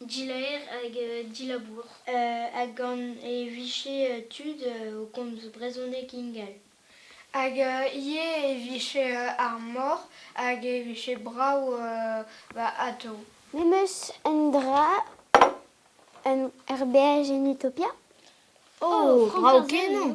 dilaer hag dilabour. Hag gant e vije tud o komz brezhoneg ingal. Hag ivez e vije ar mor hag e vije brav atav. Memes un dra er berr en Utopia? O, brav-kenañ!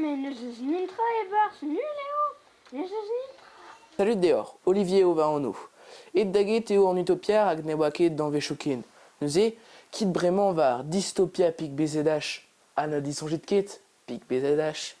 me n'eus eus netra e-barzh nul eo n'eus eus netra. Salud deoc'h, Olivier eo va anv. Aet da get eo an Utopia rak ne oa ket danvezioù ken. Neuze, kit bremañ war Dystopia pik BZH ha na disoñjit ket pik BZH.